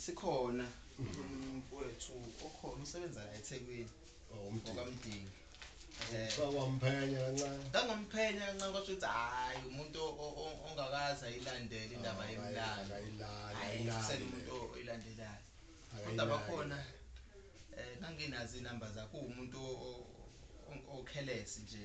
sikhona umfowethu okhona usebenza la eThekwini okamdingi Sawamphenya kancane. Ngangomphenya kancane kwasho ukuthi hayi umuntu ongakaza ilandele indaba yemlando. Ayisele umuntu oyilandelayo. Kodwa bakhona eh nganginazi inamba zakho umuntu okhelesi nje.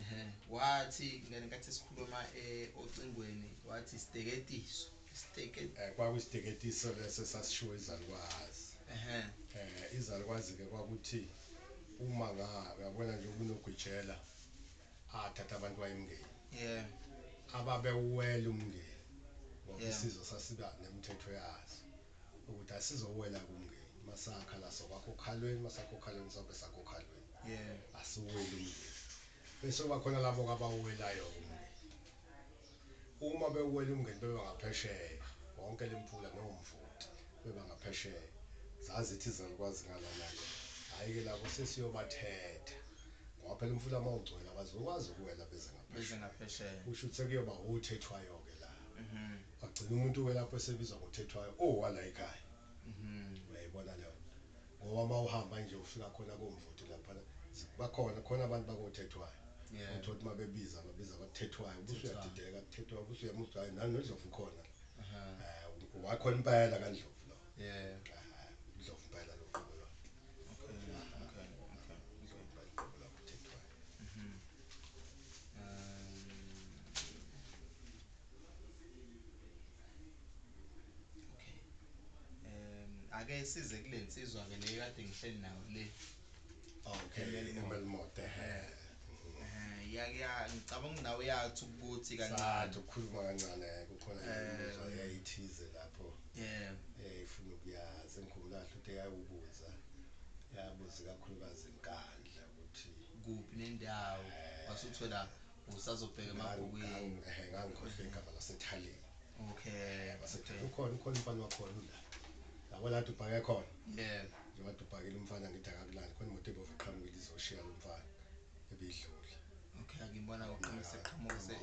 Ehhe wathi ngane nkathi esikhuluma e ocingweni wathi isiteketiso isiteke Eh kwaku isiteketiso leso esasishiwo izalukwazi. ehhe Eh izalukwazi ke kwakuthi uma nga uyabona nje kunogwitshela athatha abantu wayemngeni. yeah Ababewuwela umngeni ngoba Yeah. isizwe sasiba nemithetho yaso ukuthi asizowela kumngeni masakha la sokwakha okhalweni masakha okhalweni sobe sakha okhalweni. Yeah. Asiweli umndeni. Bese kuba khona labo abawuwelayo-ke umndeni. Uma bewuwela umndeni beba ngaphesheya, wonke lemfula nomvoti beba ngaphesheya. Zazi ithi izalukwazi ngalana-ke. Hhayi-ke labo sesiyobathetha. Ngoba phela umfula uma ugcwele abazokwazi ukuwela beze Beze ngaphesheya. ngaphesheya. Kusho ukuthi sekuyoba othethwayo-ke la. Mhm. Kwagcina umuntu-ke lapho esebizwa ngothethwayo owala ekhaya. Mhm. Uyayibona leyo nto. ngoba mawuhamba nje ufika khona komvoti laphana zi- bakhona khona abantu bakothethwayo Yeah. uthola ukuthi mabebiza babiza bakuthethwayo Thethwayo. ubusuyadideka kuthethwayo ubusuyema uthi hayi nani nodlovu ukhona la Aha. Eh, wakhona impela kandlovu lo Yeah. Ah, ndlovu impela lo qobo lwakhe Okay. Okay. Okay. Okay. Ndlovu impela uqobo lwakhe uthethwayo Um, okay um ake size kule nsizwa ke leyo kade ngihleli nayo le okay emelimote he eh, ya ya ngicabanga nawe uyathi ukuthi kancane ukukhuluma kancane kukhona imizwa eh. yayithize lapho yeah eh ifuna ukuyazi ngikhumbula kahle ukuthi yayubuza yabuza kakhulukazi inkandla ukuthi kuphi nendawo eh. wasuthola usazobheka emabhukwini ngangikhohlwe igama lasethaleni okay basethaleni ukhona ukhona umfana wakhona ula labo la dubhake khona yeah njengoba dubhakile umfana ngithi akakulandi khona imoto ebove qhamukile izoshiya lo mfana ebidlula okay ngibona uqinise qhamuke se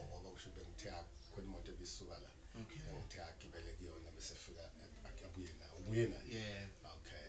ngoba usho bengithe khona imoto ebisuka la okay ngithe agibele kuyona bese fika abuye nayo ubuye nayo yeah okay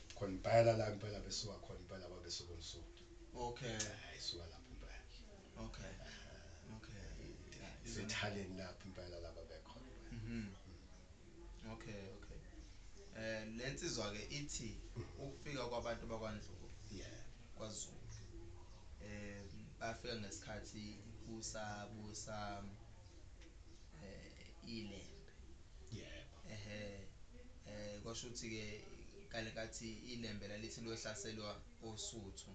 Khona impela la impela besuka khona impela kwabesuka umsuthu. Okay. Eh, isuka lapho impela. Okay. Okay. Sithaleni lapho impela laba bekhona. Mhm. Okay, okay. Eh lensizwa ke ithi ukufika kwabantu bakwaNdlubu. Yeah. KwaZulu. Eh bafika ngesikhathi kusabusa eh ile yebo ehe eh kwasho ukuthi ke kale kathi ilembe lalithi lohlaselwa osuthu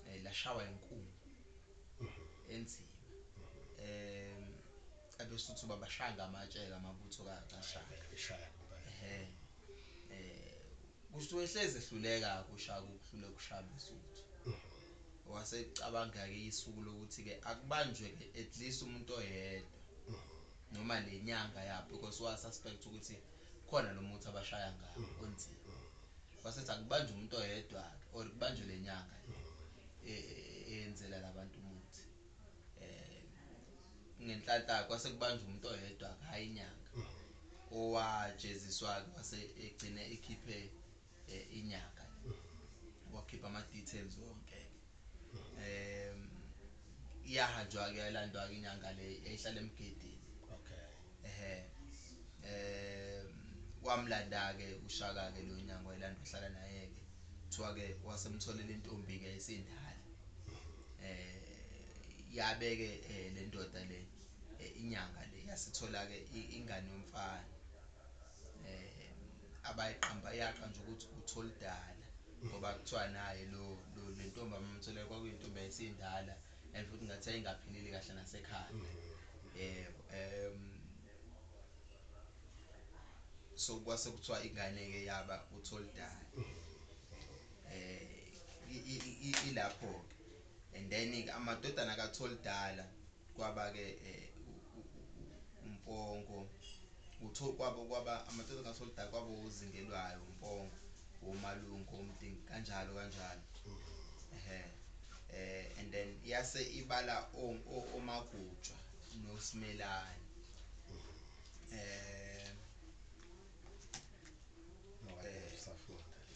eh lashawa inkungu mhm. enzima em abesuthu babashaya ngamatshe ngamabutho kashaka ehe eh kusho wehleze ehluleka kushaka ukuhlule kushaya besuthu wasecabanga-ke isuku lokuthi-ke akubanjwe-ke at least umuntu oyedwa noma lenyanga yabo because wa suspect ukuthi khona lomuthi abashaya ngawo onzima wasethi akubanje umuntu oyedwa ke or kubanje lenyanga le e, e, e, eyenzela labantu umuthi eh ngenhlanhla kwase kubanje umuntu oyedwa ke hayi inyanga owajeziswa ke wase egcine ekhiphe eh, inyanga wakhipha ama details wonke eh iyahanjwa ke yalandwa ke inyanga le ehlala emgedini okay ehe eh wamlanda ke ushaka ke lo nyanga wayilandwa hlala naye ke kuthiwa ke wasemtholela intombi ke isindala eh yabeke eh, le ndoda le eh, inyanga le yasithola ke ingane yomfana eh abayiqamba yaqha nje ukuthi utholidala ngoba kuthiwa naye lo lo lentombi amamthole kwakuyintombi esindala and futhi ngathi ayingaphilile kahle nasekhaya mm-hmm. eh em so kwase kuthiwa ingane ke yaba utholidala mm-hmm. eh ilapho ke and then ke amadodana kaTholdala kwaba ke uMpongo utho kwabo kwaba amadodana kaTholdala kwaba uzingelwayo uMpongo womalungu omdingi kanjalo kanjalo ehe eh and then yase ibala omagutshwa noSimelane eh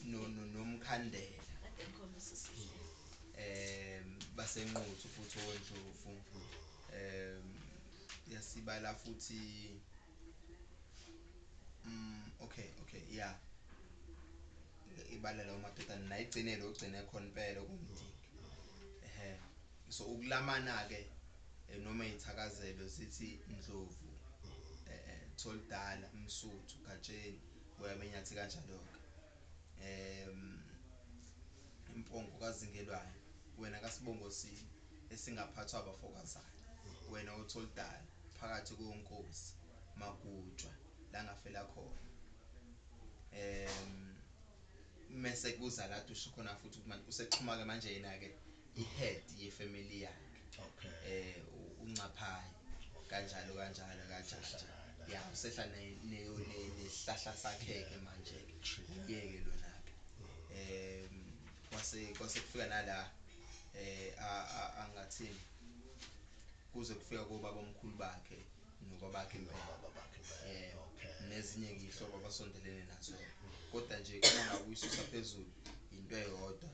no no nomkhandela um basenquthu futhi owondlovu um yasibala futhi um okay okay ya ibala lawo madodana nayigcinele ogcine khona impela okumdingi ehe so ukulamana-ke eh, noma iy'thakazelo zithi ndlovu um tholidala msuthu gatsheni uyabenyathi kanjalo-ke um impongo kazingelwayo wena kasibongosini esingaphathwa abafokazana wena otholidala phakathi konkosi magujwa la ngafela khona um mese kuza la dushe khona futhi ukuthi manje usexhuma-ke manje yena-ke i head ye family yakhe Okay. eh uncaphayi kanjalo kanjalo kajaja ya usehla ne ne ne nesihlahla sakheke manje ke uyeke lona ke em kwase kwase kufika nala eh a a angathini kuze kufika kobaba omkhulu bakhe nokwabakhe nezinye ngiyihlobo abasondelene nazo kodwa nje uma ngakuyisusa phezulu yinto eyodwa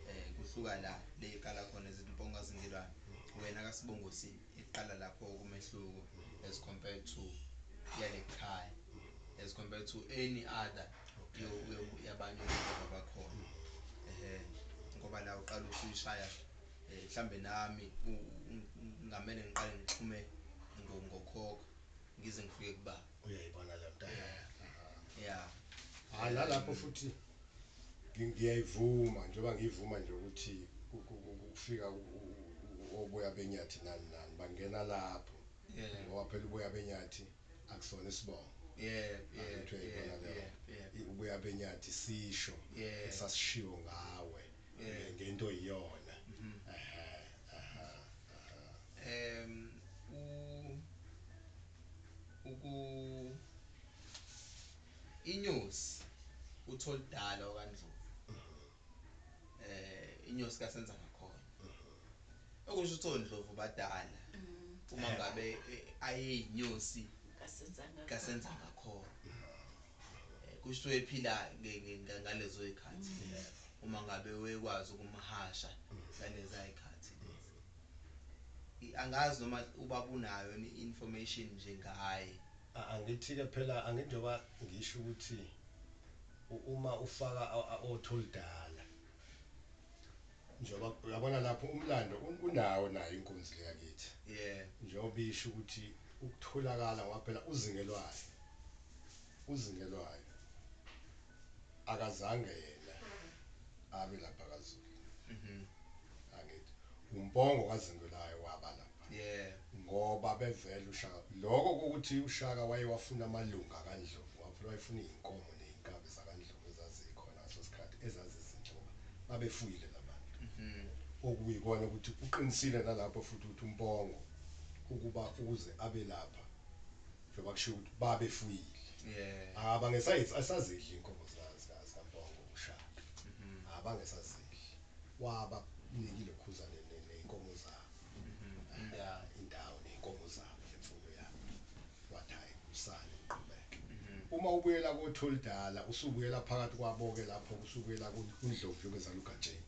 um kuhluka la le iqala khona ezimponga zingilwane wena kasibongosini iqala lapho okumehluko as compared to yale khaya as compared to any other yabanye abakhona um ngoba la uqala uthi uyishaya eh, mhlambe nami ngamele ngiqale ngixhume ngokhokho ngize ngifike kuba uyayibona le nto ya hayi nalapho futhi ngiyayivuma njengoba ngiyivuma nje ukuthi kufika oboya benyathi nani nani bangena lapho ngoba phela uboya benyathi akusona isibongo yeah yeah ubuya benyathi sisho esasishiwo ngawe eh, ngento iyona mhm. aha aha em u uku inyosi utholidala okandlovu mhm. eh inyosi kasenza ngakhona mhm. okusho ukuthi ondlovu badala uma ngabe eh, ayeyinyosi kasenza ngakhona Kusho ephila ngalezoy'khathi uma ngabe wekwazi ukumhasha ngalezay'khathi lezi. Angazi noma ubaba unayo yini i-information nje ngaye. Angithi-ke phela angithi njengoba ngisho ukuthi uma ufaka othi oludala. Njengoba uyabona lapho umlando unawo nayo inkunzi le yakithi. Yeah. Njengoba isho ukuthi ukutholakala ngoba phela uZingelwayo uZingelwayo akazange yena abe lapha kaZulu. Mhm. Angithi uMpongo kaZingelayo waba lapha. Yeah. Ngoba bevela uShaka lokho ukuthi uShaka wayewafuna amalunga kaNdlovu ngoba phela wayefuna izinkomo nezinkabi zakaNdlovu ezazikhona. Ngaleso sikhathi ezazizinquma babefuyile la bantu, okuyikona ukuthi uqinisile nalapho futhi ukuthi uMpongo ukuba ukuze abe lapha njengoba kushiwo ukuthi babefuyile, abange sazidli izinkomo zikaMpongo uShaka, abange sazidli, wabanikile uKhuzani nezinkomo zabo. Aya indawo ney'nkomo zabo nje mfundo yami. Wathi hhayi musani niqhubeke. Uma ubuyela koThulidala usubuyela phakathi kwabo-ke lapho usubuyela kuNdlovu yokuzala uGatsheni.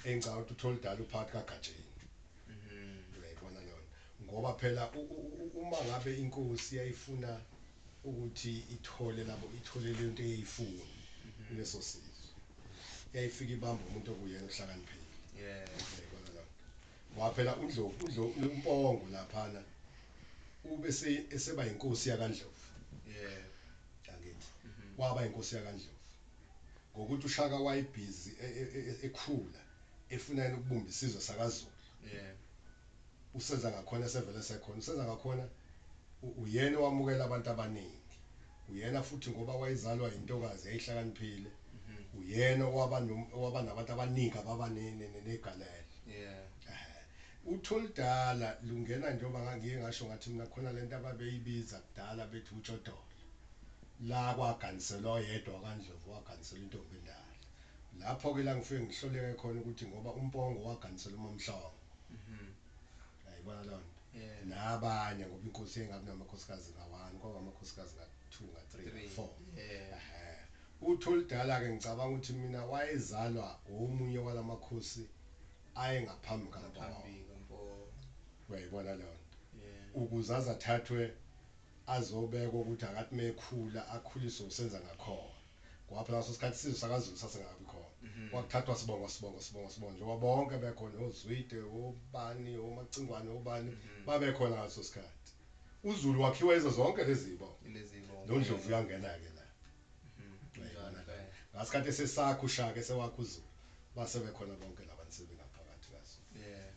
Eyi ngicabanga ukuthi uThulidala uphakathi kaGatsheni. Uyayibona leyo nto. Ngoba phela uma ngabe inkosi yayifuna ukuthi ithole lapho ithole lento eyayifuna kuleso sizwe yayifika ibamba umuntu okuyena ohlakaniphile yeah yabona lapho ngoba phela uNdlovu uNdlovu uMpongo laphana ube se- eseba yinkosi yakaNdlovu yeah angithi waba yinkosi yakaNdlovu ngokuthi uShaka wayebhizi e- e- e- ekhula efuna yena ukubumba isizwe sakaZulu yeah uSenzangakhona esevele esekhona. USenzangakhona uyena owamukela abantu abaningi, uyena futhi ngoba wayezalwa yintokazi yayihlakaniphile, uyena owaba owaba nabantu abaningi ababa negalelo. Utholudala lungena njengoba ngangiye ngasho ngathi mina khona lento ababeyibiza kudala bethi utshodola. La kwaganiselwa oyedwa wakaNdlovu waganiselwa intombi endala. Lapho-ke la ngifike ngihloleke khona ukuthi ngoba uMpongo waganisela uMaMhlongo. Mhm. Ayibona lonto. Yeah. Nabanye ngoba inkosi engabi namakhosikazi ngawani kwaba amakhosikazi nga 2 nga 3 Three. nga 4. Yeah. Ehhe. Utholidala ke ngicabanga ukuthi mina wayezalwa omunye walamakhosi ayengaphambi kaMpondo. Ngaphambi kaMpondo. Uyayibona leyo nto. Yeah. Ukuze azathathwe azobekwa ukuthi akathi mekhula akhuliswe usenza ngakhona. Ngoba phela ngaleso sikhathi isizwe sakaZulu sasingakabi khona. Kwakuthathwa sibongo, sibongo, sibongo, sibongo njengoba bonke bekhona oZwide, obani, oMacingwane, obani babekhona ngaleso sikhathi. UZulu wakhiwa yizo zonke lezi zibongo. Lezi zibongo. NoNdlovu uyangena-ke la. Uyayibona le. Ngasikhathi esesakha uShaka esewakha uZulu base bekhona bonke la bantu sebengaphakathi kaZulu.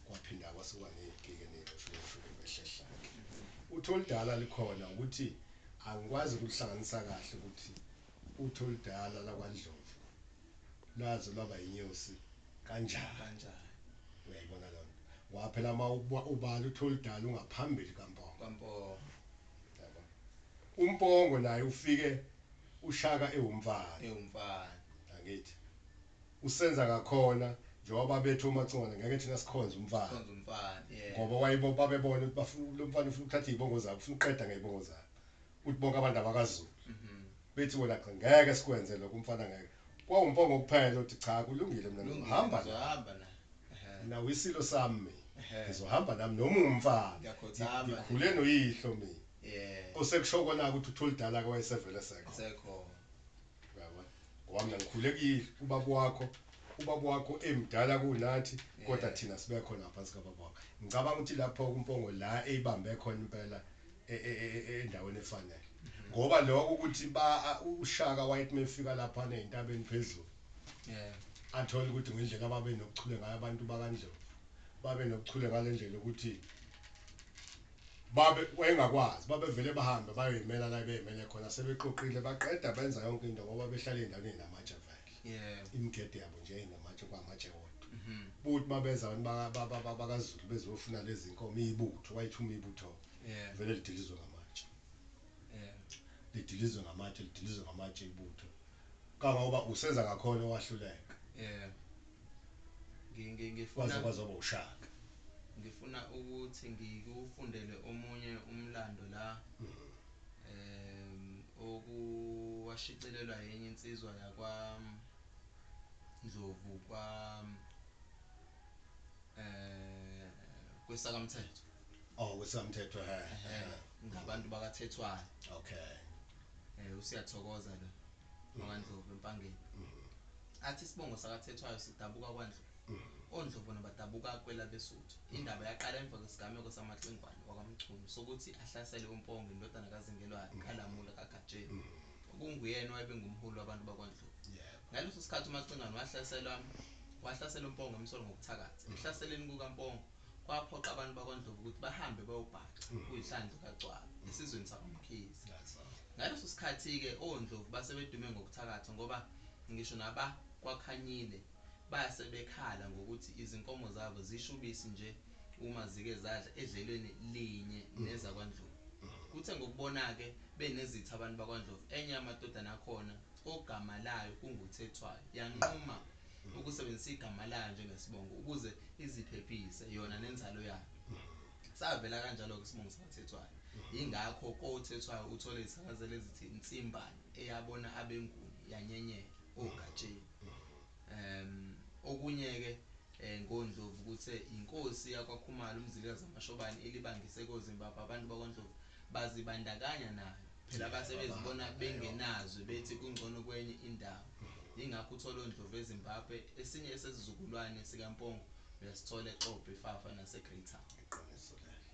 Kwaphinda kwasuka ney'gigi ney'nxushunxushu behlehla-ke. Uthe oludala likhona ukuthi Angikwazi ukuhlanganisa kahle ukuthi uthi oludala lakwaNdlovu lwaze lwaba yinyosi kanjani. Uyayibona leyo nto? Ngoba phela uma ubala uthi oludala ungaphambili kaMpongo. Uyabo? UMpongo naye ufike uShaka ewumfana. Angithi? usenza ngakhona njengoba babethi oMacingwane ngeke thina sikhonze umfana ngoba wayibo babebona ukuthi bafuna lomfana ufuna ukuthatha izibongo zabo ufuna uqeda ngezibongo zabo ukuthi bonke abantu abakazulu mhm. bethi wena cha ngeke sikwenze lokho umfana ngeke kwawumpongo kuphela uthi cha kulungile mina ngizohamba hamba na mina wisilo sami ngizohamba nami noma umfana ngikhule noyihlo mina osekusho kona ukuthi uthulidala ke wayesevele sekho Uyabona? Ngoba mina ngikhule kuyini ubaba wakho, ubaba wakho emdala kunathi kodwa Yeah. thina sibe khona ngaphansi kababa wakho. Ngicabanga ukuthi lapho uMpongo la eyibambe khona impela e- e- e- e- endaweni efanele. Ngoba lokho ukuthi ba a- uShaka wayethi mefika lapha nezintabeni phezulu Yeah. athole ukuthi ngendlela ababe nokuchule ngayo abantu bakaNdlovu. Babe nokuchule ngalendlela ukuthi Babe, wayengakwazi. Babevele bahambe bayoyimela la ebeyimele khona, sebexoxile, baqeda benza yonke into ngoba behlala ey'ndaweni ey'namatshe vele. Yebo. Imigede yabo nje yayinamatshe, kwamatshe wodwa. Buti uma beza abantu baka- ba- ba- ba- bakaZulu bezofuna lezi nkomo, ibutho, wayethi uma ibutho-ke Yebo. vele lidilizwe ngamatshe. Yebo. Lidilizwe ngamatshe, lidilizwe ngamatshe ibutho. Kangangoba uSenzangakhona owahluleka. Yebo. Waze kwazwaba uShaka. Ngifuna ukuthi ngikufundele omunye umlando la um owashicilelwa enye insizwa yakwa Ndlovu kwa um kwesakamthetho. Oh kwesakamthetho he he. Ngabantu bakaThethwayo. Okay. Usiyathokoza lo. wakwaNdlovu eMpangeni. Athi isibongo sakaThethwayo sidabuka kwaNdlovu. ONdlovu nabadabuka kwelabeSuthu. Indaba yaqala emva kwesigameko samaXingwane wakwaMchunu sokuthi ahlasele uMpongo indodana kaZingelwayo kaLamula kaGatsheni okunguyena owabe engumholi wabantu bakwaNdlovu. Ngaleso sikhathi uMaXingwane wahlasela wahlasela uMpongo emsola ngobuthakathi. Ekuhlaseleni kukaMpongo kwaphoqa abantu bakwaNdlovu ukuthi bahambe bayobhaca kuyihlandlo kaGcwaba esizweni sakwaMkhize. Ngaleso sikhathi-ke oNdlovu base bedume ngokuthakatha ngoba ngisho nabakwaKhanyile base bekhala ngokuthi izinkomo zabo zisha ubisi nje uma zike zadla edlelweni linye nezakwaNdlovu. Kuthe ngokubona-ke benezitha abantu bakwaNdlovu enye yamadodana akhona ogama layo kunguThethwayo yanquma ukusebenzisa igama layo njengesibongo ukuze iziphephise yona nenzalo yayo. Savela kanjalo-ke isibongo sikaThethwayo. Yingakho koThethwayo uthole izithakazelo ezithi Ntsimbane eyabona abeNguni yanyenyela oGatsheni. Um Okunye-ke um ngoNdlovu kuthe yinkosi yakwaKhumalo uMzilikazi kaMashobane elibangise koZimbabwe abantu bakwaNdlovu bazibandakanya nayo. Phela base bezibona bengenazwe bethi kungcono kwenye indawo. Yingakho uthola oNdlovu eZimbabwe, esinye esesizukulwane sikaMpongo uyasithola eXobho, iFafa naseGreytown. Iqiniso lelo.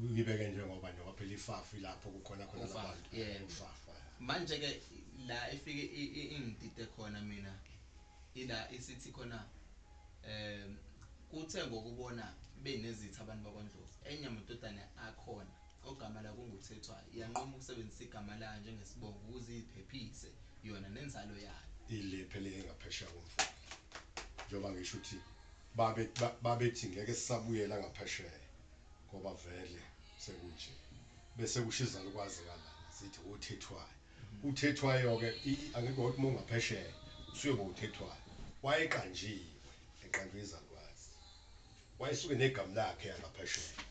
Ngibeke njengoba njengoba phela iFafa ilapho kukhona khona Ufafa, labantu. yebo. Ufafa. Manje-ke la efike i- i- ingidide khona mina ila isithi khona um kuthe ngokubona benezitha abantu bakwaNdlovu enye amadodana akhona ogama layo kunguThethwayo, yanquma ukusebenzisa igama layo njengesibongo ukuze iziphephise yona nenzalo yayo. Ile phela eyengaphesheya komfula, njengoba ngisho ukuthi babe, ba, babethi ngeke sisabuyela ngaphesheya ngoba vele sekunje. Bese kusho izalukazi ngalana, zithi woThethwayo. UThethwayo-ke, i, i, angithi wawuthi uma ungaphesheya, usuyoba wuThethwayo. Wayeqanjiwe, eqanjwe izalukazi. Wayesuke negamu lakhe angaphesheya.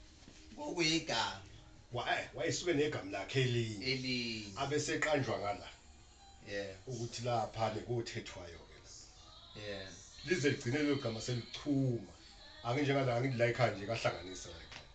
Kokuyigama. Wa, eh, wayesuke negamu lakhe elinye. Elinye. Abeseqanjwa ngala. Yeah. Ukuthi lapha nekuthethwayo ke la. Yeah. Lize ligcine lelo gama selichuma. Anginjengala angithi la ekhaya nje kahlanganisa la ekhaya.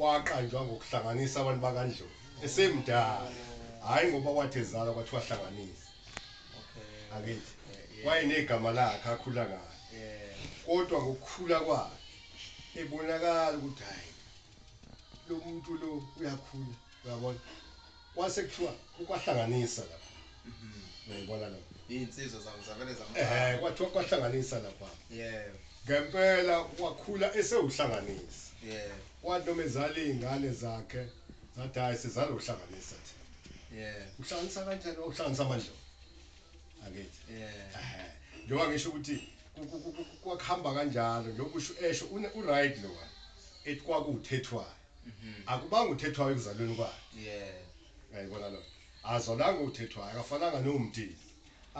Waqanjwa ngokuhlanganisa abantu bakaNdlovu esemdala, hhayi ngoba wathi ezalwa kwathiwa hlanganisa. Angithi? Wayenegama lakhe akhula ngalo. Kodwa ngokukhula kwakhe ebonakala ukuthi hhayi lo muntu lo uyakhula, uyabona? Kwase kuthiwa ukwahlanganisa lapha. Uyayibona lo. Izinsizwa zabo zavele zamcala. Eh kwathiwa kwahlanganisa lapha. Yebo. Ngempela wakhula esewuhlanganisa. Yebo. Kwathi noma ezala izingane zakhe zathi hayi sizalo uhlanganisa thi. Yebo. Uhlanganisa kanjani uhlanganisa amandlo? Angithi. Yebo. Eh. Njengoba ngisho ukuthi kwakuhamba kanjalo njengoba usho esho u right lo. Ethi kwakuthethwayo. akubanga uthethwayo ekuzalweni kwakhe yeah ngayibona lo azalanga uthethwayo akafananga nomdini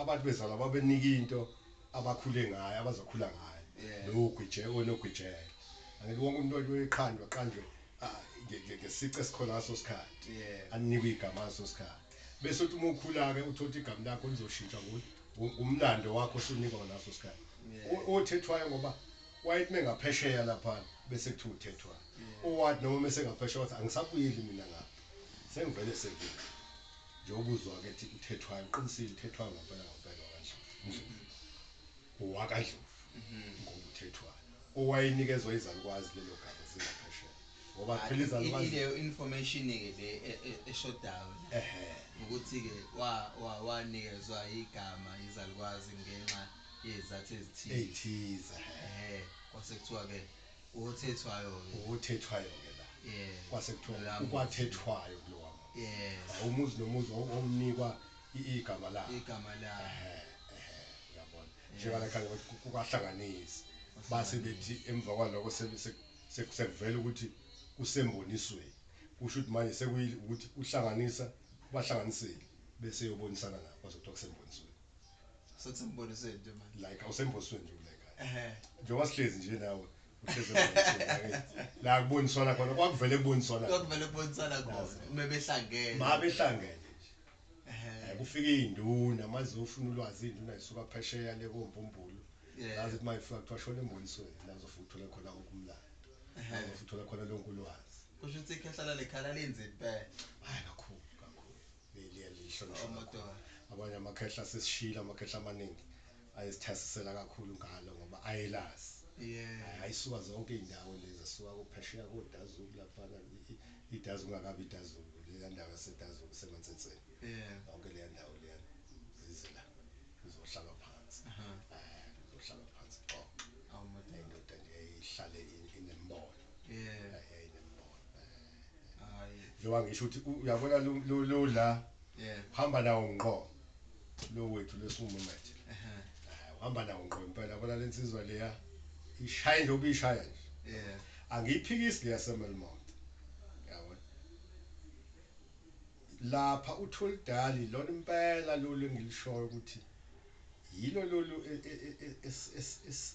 abantu bezalwa babenika into abakhule ngayo abazokhula ngayo yeah. lo gwije onogwijela angithi wonke umuntu othi uyiqhandwa qanjwe ah, ngesice esikhona ngaso sikhathi yeah. anikwe igama ngaso sikhathi bese uthi uma ukhula-ke uthotha igama lakho lizoshintsha ngumlando wakho osunikwa ngaleso sikhathi othethwayo ngoba wayethi mengaphesheya laphana bese kuthiwa uthethwayo oward noma mese ngaphesheya wathi angisabuyeli mina ngapha sengivele sekile nje ukuzwa ke ukuthi uthethwayo uqinisile uthethwayo ngampela ngampela wakandlovu owakandlovu mhm. ngoba uthethwayo owayenikezwa izalukwazi lelo gama zingaphesheya ngoba phela izalukwazi leyo information ke le e, e, eshodayo ehe ukuthi ke wa wanikezwa igama izalukwazi ngenxa yezathu ezithize ezithize ehe kwase kuthiwa ke Uthethwayo-ke. Uthethwayo-ke la. Yeah. Kwase kuthiwa Kulaa muzi. ukwathethwayo kulowa muzi. Yes. Ah, Umuzi nomuzi wawu- wawunikwa i- igama lawo. Igama lawo. Ehhe, ehhe, uyabona. Yes. Njengala khaya bathi ku- kukwahlanganisi. Base Kwahlanganisa. bethi emva kwaloko se- se- se- sekuvela ukuthi kusembonisweni. Kusho ukuthi manje sekuyile ukuthi uhlanganisa ubahlanganisile bese eyobonisana nabo kwase kuthiwa kusembonisweni. Sekusembonisweni nje manje. Like awusembosweni nje kule kaya. Ehhe. Njengoba sihlezi nje nawe uhlezi embosweni angithi. La kuboniswana khona kwakuvele kuboniswana. Kwakuvele kuboniswana khona uma behlangene. Uma behlangene nje. Ehhe. Kufika izinduna manje ufuna ulwazi izinduna zisuka phesheya le kombumbulu. Yazi ukuthi mayifika kuthiwa shona embonisweni nazo futhi uthola khona wonke umlando. Ehhe. Futhi uthola khona lonke ulwazi. Kusho ukuthi ikhehla lale khala linzima impela. Hayi kakhulu kakhulu. liyalihlonishwa kakhulu abanye amakhehla sesishilo amakhehla amaningi ayesithasisela kakhulu ngalo ngoba ayelazi yeah ayisuka zonke izindawo lezi asuka kuphesheya kodazulu laphana idazi ungakabi idazulu leya ndawo yasedazulu semantsenseni yeah yonke leya ndawo leya zize la uzohlala phansi uzohlala phansi xoxa indoda nje ihlale inembono Yeah. Hey lembona. Hayi. Njengoba ngisho ukuthi u- uyabona lo- lo lo la Yeah. hamba nawo ngqo. Lo wethu lesumo manje. Ehhe. Ah, Uhamba nawo ngqo impela yabona lensizwa leya ishaya nje ubishaya nje. Yeah. Angiyiphikisi leya semelmont. Yabona. Lapha utholidali lona impela lolu engilishoyo ukuthi yilo lolu e- e- e- e- es- es- es-